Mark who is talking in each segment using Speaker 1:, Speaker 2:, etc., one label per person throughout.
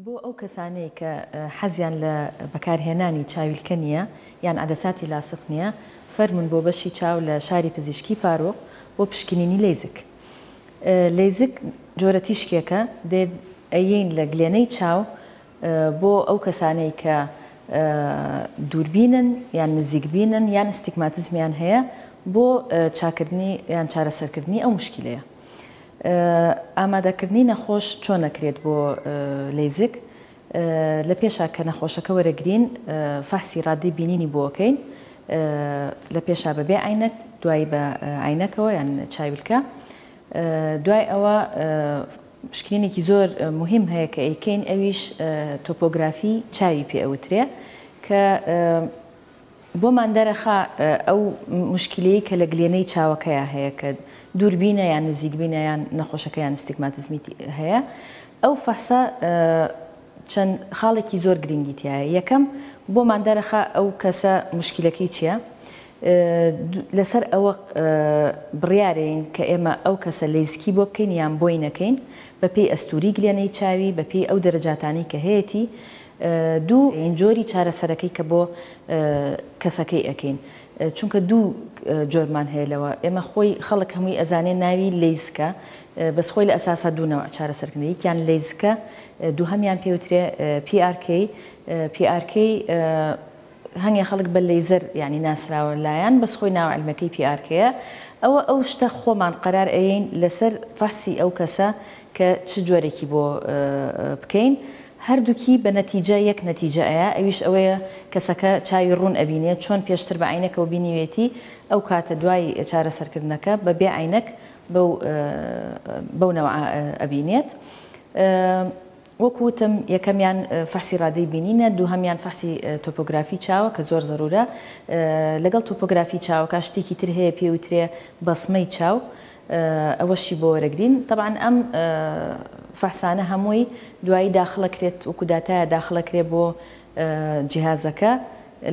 Speaker 1: بۆ ئەو کەسانەی کە حەزیان لە بەکارهێنانی چاویلکە نییە یان عەدەساتی لاسق نییە، فەرموون بۆ بەشی چاو لە شاری پزیشکی فاروق بۆ پشکنینی لەیزک. لەیزک جۆرە تیشکێکە دێت ئەیەین لە گلێنەی چاو بۆ ئەو کەسانەی کە دووربینن یان نزیکبینن یان ئەستیگماتزمیان هەیە بۆ چاککردنی یان چارەسەرکردنی ئەو موشکیلەیە. ئامادەکردنی نەخۆش چۆن ئەکرێت بۆ لەیزک؟ لە پێشا کە نەخۆشەکە وەرەگرین فەحسی ڕادەی بینینی بۆ ئەکەین لە پێشا بە بێ عەینەک دوایی بە عەینەکەوە یان چاویلکە دوای ئەوە پشکنینێکی زۆر مهم هەیە کە ئەیکەین ئەویش تۆپۆگرافی چاوی پێ ئەوترێ کە بۆمان دەرەخا ئەو موشکیلەی کە لە گلێنەی چاوەکەیا هەیە کە دووربینە یان نزیکبینە یان نەخۆشەکە یان ئەستیگماتزمی هەیە ئەو فەحسە چەند خاڵێکی زۆر گرینگی تیایە یەکەم بۆمان دەرەخا ئەو کەسە موشکیلەکەی چیە لەسەر ئەوە بڕیارەین کە ئێمە ئەو کەسە لەیزکی بۆ بکەین یان بۆی نەکەین بەپێی ئەستوری گلێنەی چاوی بەپێی ئەو دەرەجاتانی کە هەیەتی دوو ین جۆری چارەسەرەکەی کە بۆ کەسەکەی ئەکەین چونکە دوو جۆرمان هەیە لەوە ئێمە خۆی خەڵک هەمووی ئەزانێ ناوی لەیزکە بەس خۆی لە ئەساسا دوو نەوع چارەسەرکردنە یەکیان لەیزکە دووهەمیان پێوترێ PRK PRK هەنگێ خەڵک بە لەیزەر یانی ناسراوە لایان بەس خۆی ناو علمەکەی پی ئار کەیە ئەوە ئەو شتە خۆمان قەرار ئەیەین لەسەر فەحسی ئەو کەسە کە چ جۆرێکی بۆ بکەین هەردوکی بە نەتیجە یەک نەتیجە ئەیا ئەویش ئەوەیە کەسەکە چاوی ڕوون ئەبینێ چۆن پێشتر بە عەینەکەوە بینیوێتی ئەو کاتە دوای چارەسەر کردنەکە بە بێ عەینەک بەو بەو نەوعە ئەبینێت وەکو وتم یەکەمیان فەحسی ڕادەی بینینە دووهەمیان فەحسی تۆپۆگرافی چاوە کە زۆر زەرورە لەگەڵ تۆپۆگرافی چاوەکە شتێکی تر هەیە پێی وترێ بەسمەی چاو ئەوەشی بۆ وەرەگرین تەبعەن ئەم فەحسانە هەمووی دوایی داخڵەکرێت وەکو داتایە داخڵەکرێ بۆ جیهازەکە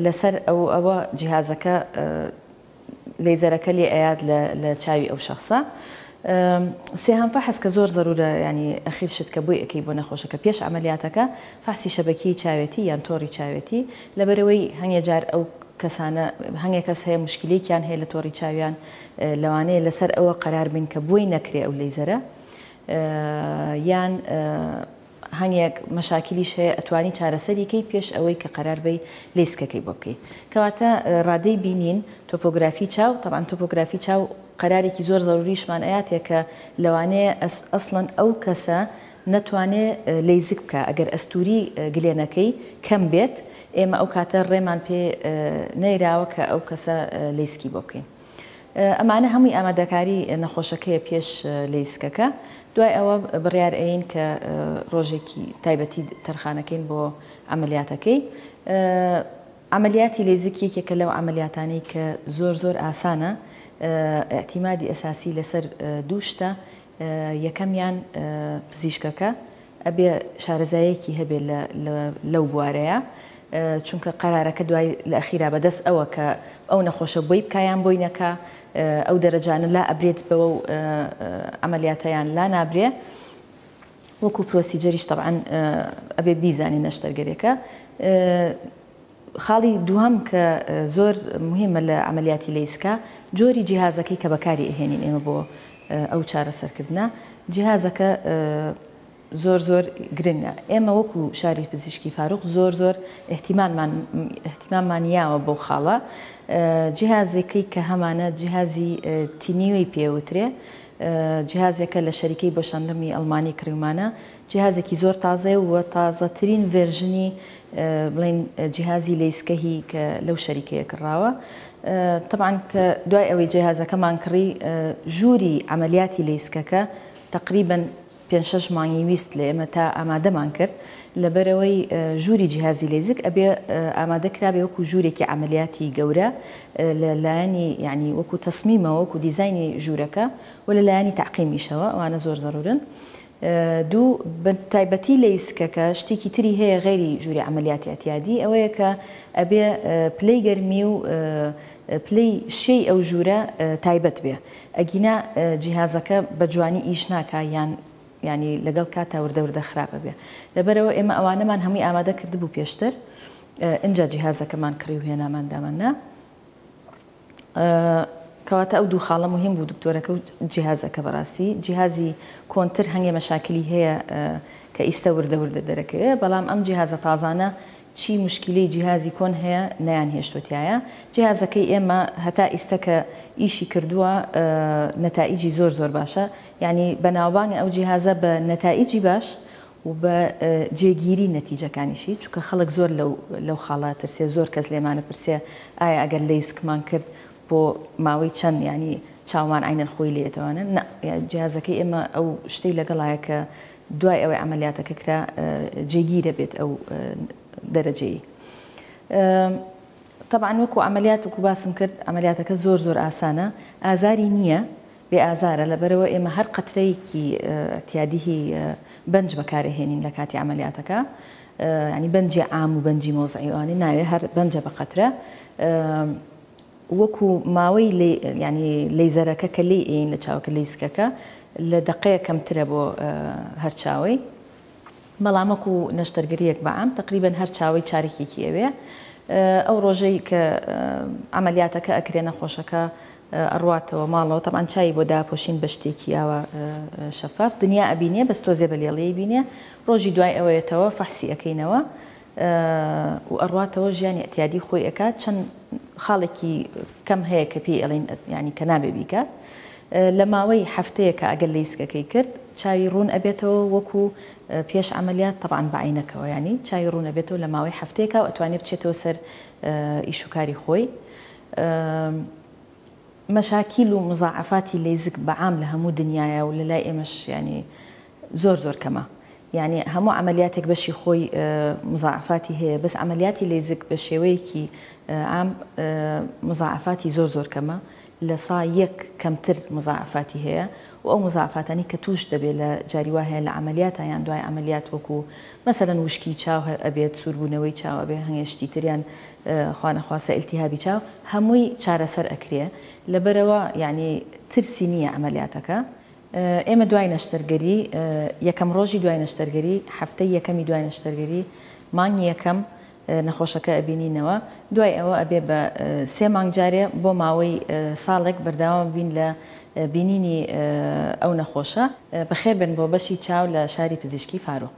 Speaker 1: لەسەر ئەو ئەوە جیهازەکە لەیزەرەکە لێ ئەیات لە لە چاوی ئەو شەخسە سێهام فەحس کە زۆر زەرورە یانی ئەخیر شت کە بۆی ئەکەی بۆ نەخۆشەکە پێش عەمەلیاتەکە فەحسی شەبەکیەی چاوێتی یان تۆڕی چاوێتی لەبەرەوەی هەنگێ جار ئەو کەسانە هەنگێ کەس هەیە مشکلیکیان هەیە لە تۆڕی چاویان لەوانەیە لەسەر ئەوە قەرار بین کە بۆی نەکرێ ئەو لەیزەرە یان هەنێک مەشاکیلیش هەیە ئەتوانی چارەسەری کەی پێش ئەوەی کە قەرار بەی لەیسکەکەی بۆ بکەی کەواتە رادەی بینین تۆپۆگرافی چاو تەبعەن تۆپۆگرافی چاو قەرارێکی زۆر زەروریشمان ئەیاتێ کە لەوانەیە ئەسڵەن ئەو کەسە نەتوانێ لەیزک بکا ئەگەر ئەستوری گلێنەکەی کەم بێت ئێمە ئەو کاتە رێمان پێ نەیراوە کە ئەو کەسە لەیسکی بۆ بکەین. ئەمانە هەمووی ئامادەکاری نەخۆشەکەیە پێش لەیسکەکە دوای ئەوە بڕیار ئەین کە ڕۆژێکی تایبەتی تەرخانەکەین بۆ عەمەلیاتەکەی عەمەلیاتی لەیزک یەکێکە لەو عەمەلیاتانەی کە زۆر زۆر ئاسانە ئیعتیمادی ئەساسی لەسەر دوو شتە یەکەمیان پزیشکەکە ئەبێ شارەزایەکی هەبێ لەو بوارەیا چونکە قەرارەکە دوای لە ئەخیرا بەدەست ئەوە کە ئەو نەخۆشە بۆی بکا یان بۆی نەکا ئەو دەرەجانە لا ئەبرێت بەوە و عەمەلیاتە یان لا نابرێ وەکو پرۆسیجەریش تەبعەن ئەبێ بیزانین نەشتەرگەرێکە خاڵی دووهەم کە زۆر موهیمە لە عەمەلیاتی لەیسکا جۆری جیهازەکەی کە بەکاری ئەهێنین ئێمە بۆ ئەو چارەسەر کردنە جیهازەکە زۆر زۆر گرنگە ئێمە وەکو شاری پزیشکی فاروق زۆر زۆر ئیهتیماممان ئیهتیماممان یاوە بەو خاڵە جیهازەکەی کە هەمانە جیهازی تینیۆی پێ وترێ جیهازەکە لە شەریکەی بۆشانلمی ئەڵمانی کڕیومانە جیهازێکی زۆر تازەیە و تازەترین ڤێرژنی بڵێین جیهازی لەیسکەهی کە لەو شەریکەیە کڕراوە تەبعەن کە دوای ئەوەی جیهازەکەمان کڕی ژووری عەمەلیاتی لەیسکەکە تەقریبەن پێنج شەش مانگی ویست لە ئێمە تا ئامادەمان کرد لەبەرئەوەی ژووری جیهازی لەیزک ئەبێ ئامادە کرابێ وەکو ژوورێکی عەمەلیاتی گەورە لە لایەنی یعنی وەکو تەسمیمەوە وەکو دیزاینی ژوورەکە و لە لایەنی تەعقیمیشەوە ئەوانە زۆر زەروورن دوو، بە تایبەتی لە یسکەکە شتێکی تری هەیە غەیری ژووری عەمەلیاتی ئەتیادی ئەوەیە کە ئەبێ پلەی گەرمی و پلەی شێی ئەو ژوورە تایبەت بێ ئەگینا جیهازەکە بە جوانی ئیش ناکا یان یانی لەگەڵ کاتا وردە وردە خراپ ئەبێ لەبەرئەوە ئێمە ئەوانەمان هەمووی ئامادە کردبوو پێشتر ئینجا جیهازەکەمان کڕی و هێنامان دامان نا کەواتە ئەو دوو خاڵە موهیم بوو دکتۆرەکە و جیهازەکە بەڕاستی جیهازی کۆنتر هەنگێ مەشاکلی هەیە کە ئیستە وردە وردە دەرەکەوێ بەڵام ئەم جیهازە تازانە چی مشکیلەی جیهازی کۆن هەیە نەیان هێشتوە تیایە جیهازەکەی ئێمە هەتا ئیستە کە ئیشی کردوە نەتائیجی زۆر زۆر باشە یانی بەناوبانگە ئەو جیهازە بە نەتائیجی باش و بە جێگیری نەتیجەکانیشی چونکە خەڵک زۆر لەو لەو خاڵە ئەترسێ زۆر کەس لێمان ئەپرسێ ئایا ئەگەر لەیسکمان کرد بۆ ماوەی چەند یانی چاومان عەین الخوی لێ ئەتوانن نا جیهازەکەی ئێمە ئەو شتەی لەگەڵایە کە دوای ئەوەی عەمەلیاتەکە کرا جێگیر ئەبێت ئەو دەرەجەی تەبعەن وەکو عەمەلیات وەکو باسم کرد عەمەلیاتەکە زۆر زۆر ئاسانە ئازاری نییە بێ ئازارە لەبەرئەوە ئێمە هەر قەترەیەکی ئیعتیادیی بەنج بەکارئەهێنین لە کاتی عەمەلیاتەکە یانی بەنجی عام و بەنجی مەوزعی ئەوانەی ناوێ هەر بەنجە بە قەترە وەکو ماوەی لێ یانی لەیزەرەکە کە لێی ئێین لە چاوەکە لەیزکەکە لە دەقەیەک کەمترە بۆ هەر چاوەی بەڵام وەکو نەشتەرگەریەک بە عام تەقریبەن هەر چاوەی چارەکێکی ئەوێ ئەو ڕۆژەی کە عەمەلیاتەکە ئەکرێ نەخۆشەکە ئەڕواتەوە ماڵەوە تەبعەن چاوی بۆ داپۆشین بە شتێکی ئاوا شەفاف دنیا ئەبینێ بەس تۆزێ بە لێڵی ئەیبینێ ڕۆژی دوای ئەوە یەتەوە فەحسی ئەکەینەوە و ئەڕواتەوە ژیانی ئیعتیادی خۆی ئەکات چەن خاڵێکی کەم هەیە کە پێی ئەڵێن یانی کە نابێ بیکات لە ماوەی هەفتەیەکە ئەگەر لەیسکەکەی کرد چاوی ڕوون ئەبێتەوە وەکو پێش عەمەلیات تەبعەن بە عەینەکەوە یانی چاوی ڕوون ئەبێتەوە لە ماوەی هەفتەیەکا و ئەتوانێ بچێتەوە سەر ئیش و کاری خۆی مەشاکیل و مزاعەفاتی لەیزک بە عام لە هەموو دنیایە و لە لای ئێمەش یانی زۆر زۆر کەمە یانی هەموو عەمەلیاتێک بەشی خۆی مزاعەفاتی هەیە بەس عەمەلیاتی لەیزک بە شێوەیەکی عام مزاعەفاتی زۆر زۆر کەمە لە سا یەک کەمتر مزاعەفاتی هەیە و ئەو مزاعەفاتانی کە تووش دەبێ لە جاری وا هەیە لە عەمەلیاتە یان دوای عەمەلیات وەکوو مەسەلەن وشکی چاو ئەبێت سووربوونەوەی چاو ئەبێ هەنگێ شتی تر یان خوانەخواستە ئیلتیهابی چاو هەمووی چارەسەر ئەکرێ لەبەرئەوە یەعنی ترسی نییە عەمەلیاتەکە ئێمە دوای نەشتەرگەری یەکەم ڕۆژی دوای نەشتەرگەری هەفتەی یەکەمی دوای نەشتەرگەری مانگی یەکەم نەخۆشەکە ئەبینینەوە دوای ئەوە ئەبێ بە سێ مانگ جارێ بۆ ماوەی ساڵێک بەردەوام بین لە بینینی ئەو نەخۆشە. بەخێربێن بۆ بەشی چاو لە شاری پزیشکی فاروق.